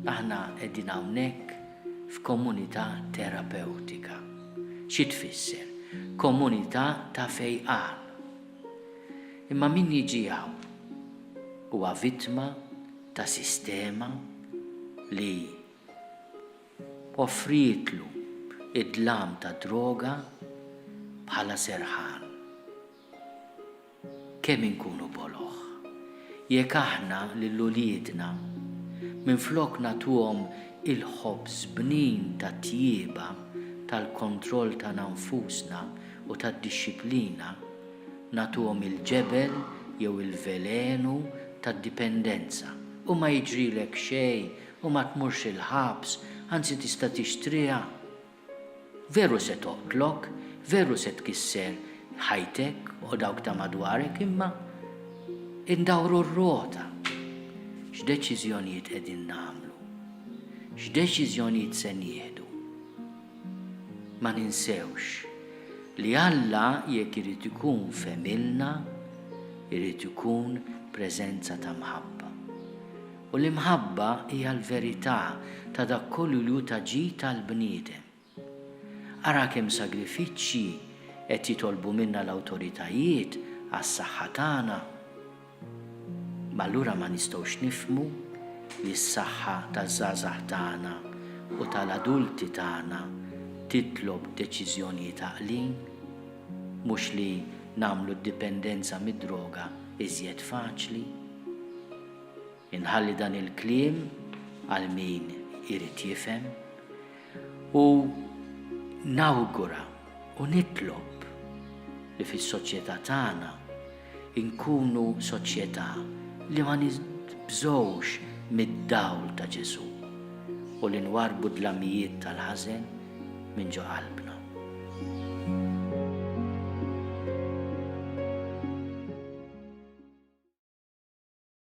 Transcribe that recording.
Aħna qegħdin hawnhekk f'komunità terapewtika. Xi tfisser? Komunità ta' fejqan. Imma min jiġi hawn huwa vittma ta' sistema li Offrietlu d-dlam ta' droga bħala serħan. Kemm inkunu boloh jekk aħna lil uliedna minflok nagħtuhom il-ħobż bnin tat-tjieba, tal-kontroll tagħna nfusna u tad-dixxiplina, nagħtuhom il-ġebel jew il-velenu tad-dipendenza u ma jiġrilek xejn U ma tmurx il-ħabs, anzi tista' tixtriha. Veru se toqtlok, veru se tkisser ħajtek u dawk ta' madwarek imma indawru r-rota. X'deċiżjonijiet qegħdin nagħmlu? X'deċiżjonijiet se nieħdu? Ma ninsewx li Alla jekk irid ikun f'għemilna, irid ikun preżenza ta' mħabba. U l-imħabba hija l-verità ta' dak kollu li hu ta' ġid għall-bniedem. Ara kemm sagrifiċċji qed jitolbu minna l-awtoritajiet għas-saħħa tagħna. Ma allura ma nistgħux nifhmu li s-saħħa taż-żgħażagħ tagħna u tal-adulti tagħna titlob deċiżjonijiet għaqlin, mhux li nagħmlu d-dipendenza mid-droga iżjed faċli? Inħalli dan il-kliem għal min irid jifhem u nawgura u nitlob li fis-soċjetà tagħna nkunu soċjetà li ma nibżgħux mid-dawl ta' Ġesù u li nwarrbu d-dlamijiet tal-ħażen minn ġo qalbna.